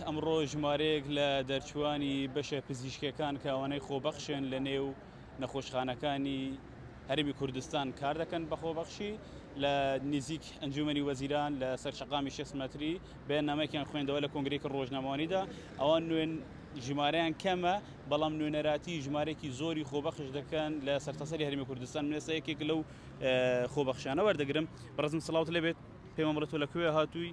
ئەمڕۆ ژمارەیەک لە دەرچووانی بەشە پزیشکیەکان کە ئەوانەی خۆبەخشن لە نێو نەخۆشخانەکانی هەرمی کوردستان کار دەکەن بە خۆبەخشی لە نزیک ئەنجومنی وەزیران لە سەر شقامی شست مەتری بەیاننامەیەکیان خوێندەوە لە کۆنگرێکی ڕۆژنامەوانیدا ئەوان نوێن ژمارەیان کەمە بەڵام نوێنەراتی ژمارێکی زۆری خۆبەخش دەکەن لە سەرتاسەری هەرمی کوردستان منێستا یەکێک لەو خۆبەخشانە وەردەگرم بەڕزم سلااوت لەبێت پێمەڕێت تۆ لە کوێ هاتووی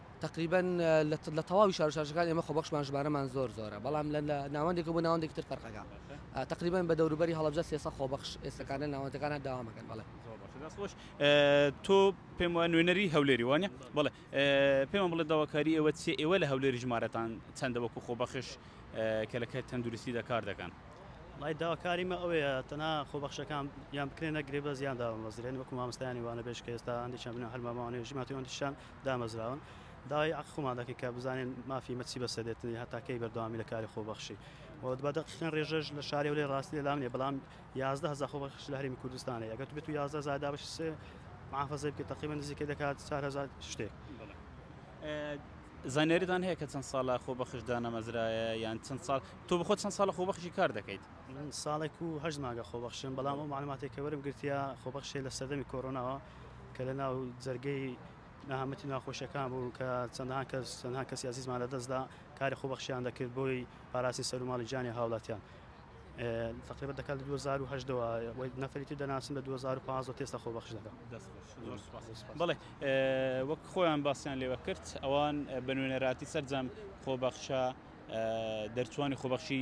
تەقریبەن لە تەواوی شار و شارچەکان ئێمە خۆبەخشمان ژمارەمان زۆر زۆرە بەڵام لە ناوەندێکە بۆ ناوەندێکی تر فەرقەکە تقریبان بە دەوروبەری هەڵبجە سێسە خۆبەخش ئێستەکانە ناوەندەکانە داوامەکەن بەڵێ خۆش تۆ پێم وە نوێنەری هەولێری وانە بڵێ پێمان بڵێ داواکاری ئێوە چێ ئێوە لە هەولێری ژمارەتان چەندە وەکو خۆبەخش کە لە کەر تەندروستی دەکار دەکەن لای داواکاریمە ئەوەیە تەنا خۆبەخشەکان یان بکرێنە گرێبە زیان دامەزرێن وەکو مامستانی وانە بێش کە ئێستا هەندێکیان بنە هەرمامانێژی ماتیۆنتیشان دامەزراون، داوای عەقڵ خۆمان دەکەین کە بزانین مافی مە چی بە سەر دێت، هەتا کەی بەردەوامی لە کاری خۆبەخشی و بە دە قیقن رێژەش لە شاری هەولێر راستی لە لام نیە، بەڵام یازدە هەزار خۆبەخش لە هەرێمی کوردستان هەیە، گەر بێتو یازدە هەزار دابەشی سێ موحافەزەی بکەی تەقریبەن نزیکەی دەکات چار هەزار شتێک. زانیاریتان هەیە کە چەند ساڵە خۆبەخش دانەمەزرایە یان چەند ساڵ، تۆ بە خۆت چەند ساڵە خۆبەخشی کار دەکەیت؟ من ساڵێک و هەشت مانگە خۆبەخشم، بەڵام ئەو مەعلوماتەی کە وەرم گرتیە خۆبەخشێ لە سەردەمی کۆرۆناوە، کە لە ناو جەرگەی نەهامەتی ناخۆشیەکان بوو کە چەندان کەس چەندان کەسی عزیزمان لە دەستدا کاری خۆبەخشیان دەکرد بۆی پاراسی سەر و ماڵی جانی هاوڵاتیان تقریبا دەکات لە 2010ەوە نەفریتی دەناسم لە 2015 تێستا خۆ بەخش دەکەم بڵێ وەک خۆیان باسییان لێوە کرد ئەوان بە نوێنەراتی سەررجەم خۆبەخشە دەرچوانی خۆبەخشی